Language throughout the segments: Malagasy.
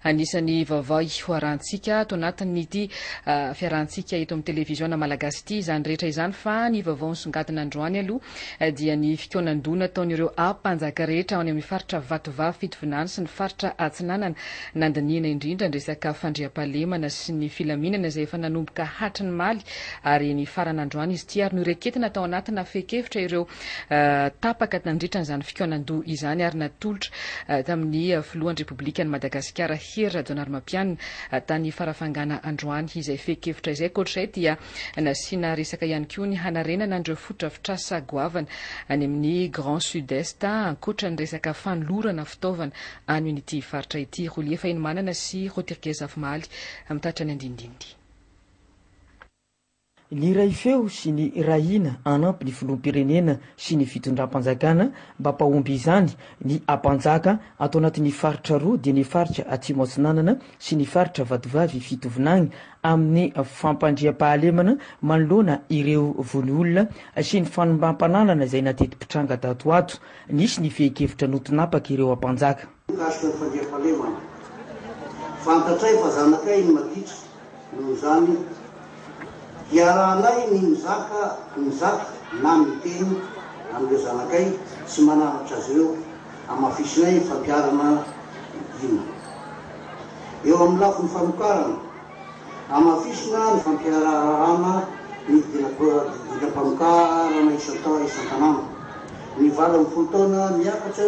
Anisan'ny vaovao hoarahantsika ato anatin'ity fiarahantsika eto amin'ny televiziona malagasy ity izany rehetra izany fa ny vaovao nisongadina androany aloha dia ny fikaonan-doha nataon'ireo mpanjaka rehetra any amin'ny faritra Vatovavy Fitovinany sy ny faritra Atsinanana nandinihina indrindra ny resaka fandriampahalemana sy ny filaminana izay efa nanomboka hatry ny maly ary nifarana androany izy ity ary noreketina tao anatina fehin-kevitra ireo tapaka nandritra an'izany fikaonan-doha izany ary natolotra tamin'ny filohan'ny Repoblikan'i Madagasikara Hery Rajaonarimampianina tany Farafangana androany izay fehin-kevitra izay. Ankoatr'izay dia nasiana resaka ihany koa ny hanarenana an'ireo fotodrafitrasa goavana any amin'ny Grand Sud-Est ankoatra ny resaka fanolorana fitaovana any amin'ity faritra ity. Rolie Fahinimanana sy Rotirgue Zafimahaly mitatitra ny andinindininy. Niray feo sy nirahina hanampy ny filoham-pirenena sy ny fitondram-panjakana mba mpahomby izany ny hampanjaka ato anatin'ny faritra roa dia ny faritra Atsimo Atsinanana sy ny faritra Vatovavy Fitovinagny amin'ny fampandriampahalemana manoloana ireo vono olona sy ny fanombam-pananana izay nateti-pitranga tato ho ato. Nisy ny fehin-kevitra notinapaka ireo hampanjaka. Mikasika ny fandriampahalemana, fantatray fa zanakay ny magidra, noho izany iarahanay ny mizaka mizaka na miteny amin'ireo zanakay sy mananatra azy ireo, hamafisinay ny fampiharana hina. Eo amin'ny lafiny famokarana, hamafisina ny fampiharana ny didinam-pamokarana isan-tanàna, ny valo ambin'ny folo taona miakatra,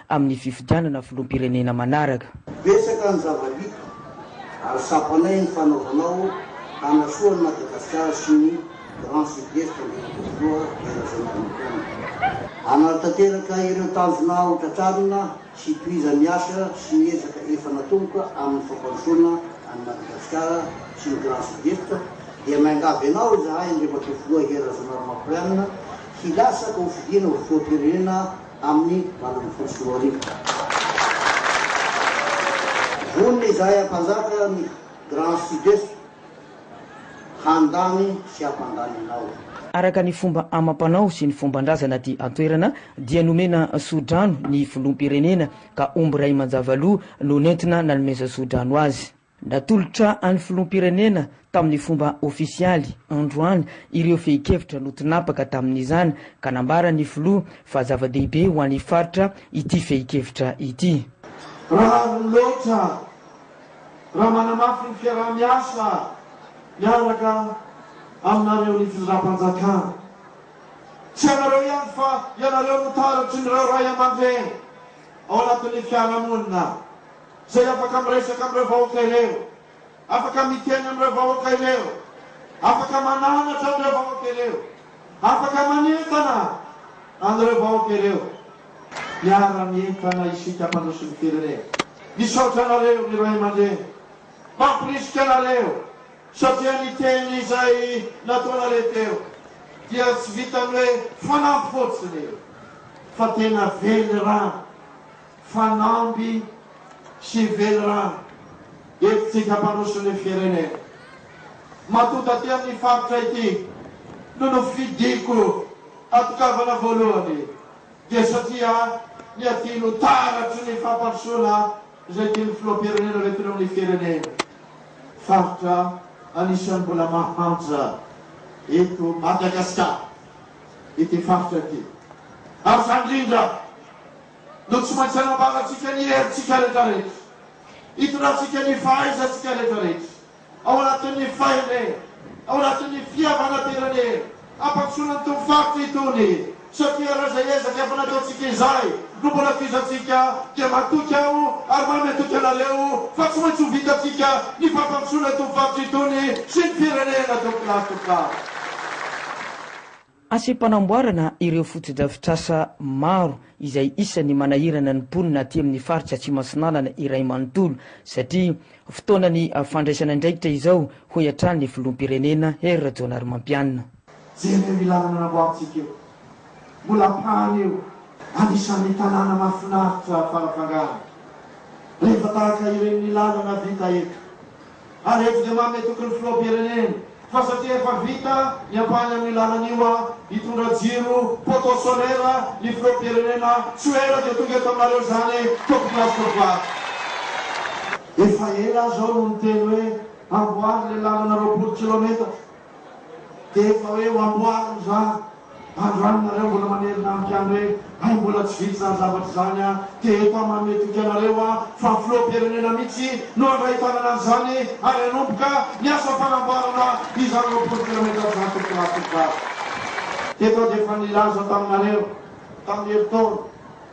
amin'ny fifidianana filoham-pirenena manaraka. Betsaka ny zava-bita ary tsapanay ny fanaovanao hanasoa an'i Madagasikara sy ny Grand Sud-Est Andriamatoa Filoha Hery Rajaonarimampianina. Hanaratanteraka ireo tanjona ho tratrarina sy tohizany ny asa sy ny ezaka efa natomboka amin'ny fampandrosoana an'i Madagasikara sy ny Grand Sud-Est dia miangavy anao izahay Andriamatoa Filoha Hery Rajaonarimampianina hilatsaka ho fidiana ho filoham-pirenena amin'ny valo ambin'ny folo sy roa arivo. Vonona izahay hampanjaka ny Grand Sud-Est handany sy hampandany anao. Araka ny fomba amam-panao sy ny fomban-drazana aty an-toerana dia nomena soa-drano ny Filoham-pirenena ka omby iray manjavaloha no nentina nanomeza soa-drano azy. Natolotra an'ny Filoham-pirenena tamin'ny fomba ofisialy, androany, ireo fehin-kevitra notinapaka tamin'izany ka nambaran'ny Filoha fa zava-dehibe ho an'ny faritra ity fehin-kevitra ity. Rariny loatra raha manamafy ny fiaraha-miasa miaraka aminareo ny Fizram-panjakana. Tsy ianareo ihany fa ianareo no taratry ny ireo ray aman-dreny ao anatin'ny fiarahamonina. Izay afaka miresaka amin'ireo vahoaka ireo, afaka miteny amin'ireo vahoaka ireo, afaka mananatra an'ireo vahoaka ireo, afaka manentana an'ireo vahoaka ireo. Miara-mientana isika mpandroso ny firenena. Misaotra anareo ny ray aman-dreny mampirisika anareo satria ny teny izay nataonareo teo dia tsy vitan'ny hoe fanampy fotsiny fa tena velirano. Fanamby sy velirano entintsika mpandroso ny firenena. Matoa taty amin'ny faritra ity no nofidiko hatokavana voalohany dia satria ny aty no taratry ny fampandrosoana izay tian'ny filoham-pirenena hoentina amin'ny firenena. Faritra anisan'ny mbola mahantra eto Madagasikara ity faritra ity ary izany indrindra. no tsy maintsy hanambarantsika ny herintsika rehetrarehetra, hitondrantsika ny fahaizantsika rehetrarehetra ao anatin'ny fahendrena, ao anatin'ny fihavanam-pirenena hampandrosoana ny itony faritra itony, satria raha izay ezaka efa nataontsika izay no mbola kizantsika dia matoky aho ary mahay matoky anareo fa tsy maintsy ho vitantsika ny fampandrosoana itony faritra itony sy ny firenena tompokalahy tompokavy. Asem-panamboarana ireo fotodrafitrasa maro izay isan'ny manahirana ny mponina aty amin'ny faritra Atsimo-Atsinanana iray manontolo satria fotoanan'ny fandraisana andraikitra izao, hoy hatrany ny filoham-pirenena Hery Rajaonarimampianina. Jereo io lalana namboarintsika io, mbola ampahany io, anisan'ny tanàna mahafinaritra fara-pangarony. Rehefa tahaka ireny ny lalana vita eto, Ary eto dia manome toky ny filoham-pirenena fa satria efa vita ny ampahany amin'io lalana io aho hitondra jiro poteau solaire ny filoham-pirenena tsy ho ela dia tonga eto aminareo izany tompoko lahy sy tompoko vavy. Efa ela aho izao no niteny hoe amboary ilay lalana roapolo kilometatra. Dia efa hoe ho amboarina izany. Andro any nareo mbola manerina amiko ihany hoe hay mbola tsy vita izany zavatra izany an! Dia eto aho manome toky anareo an fa filoham-pirenena mihitsy no handray tanana an'izany ary hanomboka ny asa fanamboarana izany roapolo kilometatra izany tompoko lahy tompoko vavy. Teto aho dia efa nilaza taminareo tamin'ny herintaona.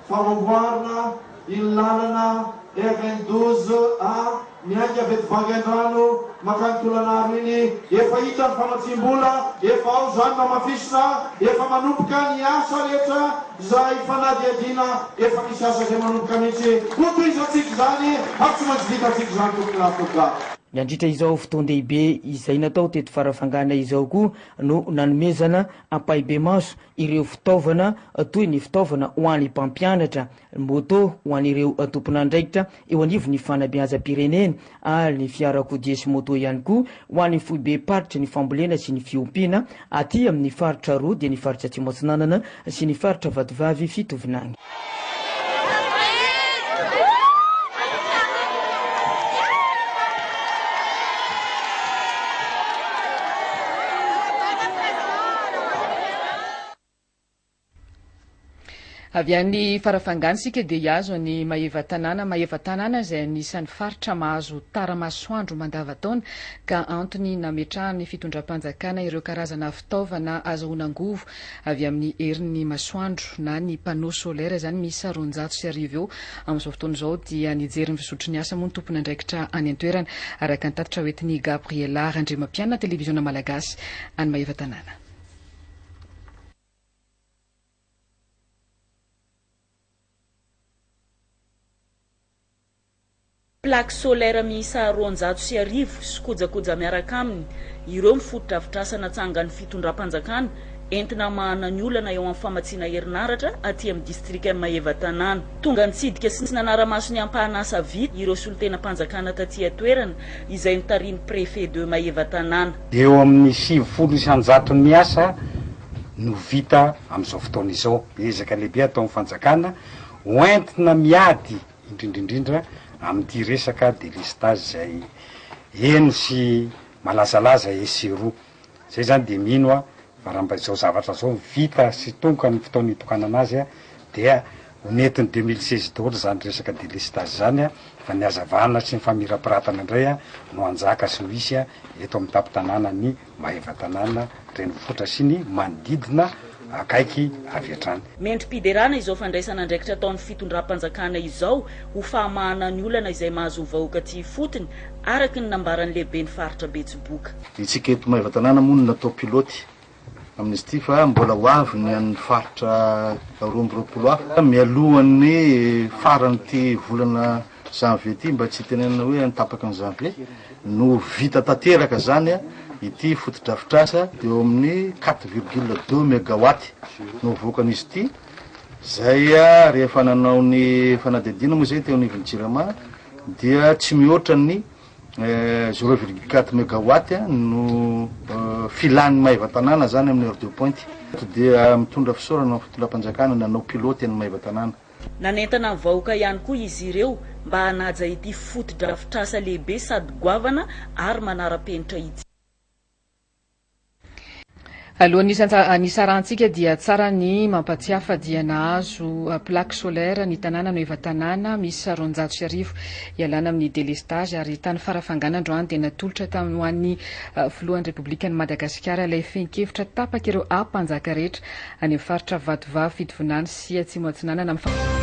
Fanamboarana iny lalana RN douze A miainga avy eto Vangaindrano makany Tolanaro iny, efa hita ny famatsiam-bola, efa ao izany mamafisina, efa manomboka ny asa rehetra izay fanadihadiana, efa misy asa izay manomboka mihitsy, hotohizantsika izany ary tsy maintsy vitantsika izany tompoko na tompokah. Nandritra izao fotoan-dehibe izay natao teto Farafangana izao koa no nanomezana ampahibemaso ireo fitaovana toy ny fitaovana ho an'ny mpampianatra, moto ho an'ireo tompon'andraikitra eo anivon'ny fanabeazam-pirenena ary ny fiarakodia sy moto ihany koa ho an'ny foibem-paritry ny fambolena sy ny fiompiana aty amin'ny faritra roa dia ny faritra Atsimo Atsinanana sy ny faritra Vatovavy Fitovinany. Avy any Farafangana isika dia hiazo an'i Maevatanàna. Maevatanàna izay anisan'ny faritra mahazo tara-masoandro mandava-taona ka antony nametrahan'ny fitondram-panjakana ireo karazana fitaovana azahoana angovo avy amin'ny herin'ny masoandro na ny panneau solaire izany miisa roanjato sy arivo eo amin'izao fotoana izao dia nijery ny fizotry ny asa moa ny tompon'andraikitra any an-toerana araka ny tatitra hoentin'i Gabriella Randriamampianina televiziona malagasy any Maevatanàna. plaques solaires miisa roanjato sy arivo sy kojakoja miaraka aminy, ireo ny fotodrafitrasa natsangan'ny fitondram-panjakana entina hamahana ny olana eo amin'ny famatsiana herinaratra aty amin'ny distrikan'i Maevatanàna. Tonga nitsidika sy nanara-maso ny ampahana asa vita ireo solontenam-panjakana taty an-toerana, izay notarihin'ny Préfet de Maevatanàna. Eo amin'ny sivifolo isan-jaton'ny asa no vita amin'izao fotoana izao. Ezaka lehibe ataon'ny fanjakana ho entina miady indrindra indrindra amin'ity resaka délestage izay eny sy malazalaza etsy sy eroa. Izay izany dia mino aho fa raha mba izao zavatra izao no vita sy tongoka ny fotoana itokanana azy dia ho nentin'ny deux mille seize daholo izany resaka délestage izany fa ny hazavana sy ny famirapiratana indray no hanjaka sy ho hisy eto amin'ny tampon-tanànan'i Maevatanàna renivohitra sy ny manodidina akaiky avy hatrany. Mendri-piderana izao fandraisana andraikitra ataon'ny fitondram-panjakana izao ho fahamahana ny olana izay mahazo ny vahoaka aty ifotony, araka ny nambaran'ny lehiben'ny faritra Betsiboka. Isika eto Maevatanàna moa no natao pilote amin'izy ity fa mbola ho avy ny an'ny faritra roa amby roapolo hafa mialohan'ny faran'ity volana. Janvier ity mba tsy hitenenana hoe any tapaka ny janvier no ho vita tanteraka zany ity fotodrafitrasa eo amin'ny quatre virgule deux megawatt no hovoakan'izy ity zay rehefa nanao ny fanadihadiana moa zay teo anivon'ny jirama dia tsy mihoatra ny eh, zéro virgule quatre megawatt no eh, filan'ny maiva tanàna zany amin'ny heure de pointe dia mitondra fisaorana ny fitondram-panjakana nanao pilote ny maiva tanàna Nanentana ny vahoaka ihany koa izy ireo mba hanaja ity fotodrafitrasa lehibe sady goavana ary manara-penitra ity. Alohan'ny hisarahantsika dia tsara ny mampatsiahy fa dia nahazo plaque solaire ny tanàna Nueva Tanàna miisa roanjato sy arivo ialana amin'ny délestage ary tany Farafangana androany dia natolotra tamin'ny ho an'ny Filohan'ny Repoblikan'i Madagasikara ilay fehin-kevitra tapaka ireo Mpanjaka rehetra any amin'ny faritra Vatovavy, Fitovinany sy sy Atsimo Atsinanana amin'ny.